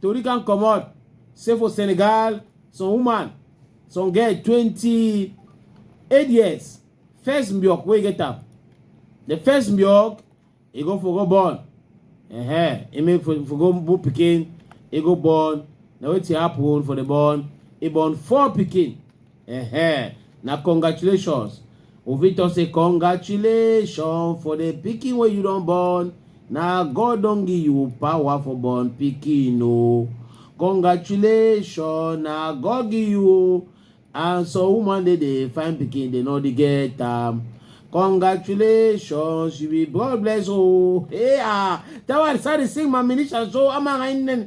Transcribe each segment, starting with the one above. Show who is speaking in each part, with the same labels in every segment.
Speaker 1: Tori can comot say for Senegal, some woman, some girl 28 years, first milk wey get am. The first milk, e go for go born. Uh-huh. E make for, for go born pikin, e go born. Na wetin happen for the born. E born four pikin. Uh-huh. Na congratulations. Ovito say congratulations for the pikin wey you don born. Na God don give you power for born pikin o. Congratulations, na God give you o. And some woman dey dey find pikin dey no dey get am. Congratulations, you be God bless o. Hey ah, that one sorry sing my minister so I'm a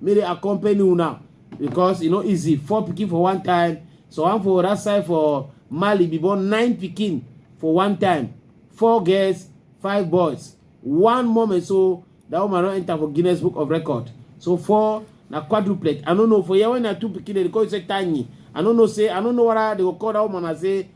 Speaker 1: May they accompany you now because you e know easy four picking for one time so one for that side for mali be born nine picking for one time four girls five boys one moment so that woman don enter for guinness book of record so four na quadruplet i no know for here when na two pikin dem dey call you say tiny i no know say i no know whether they go call that woman and say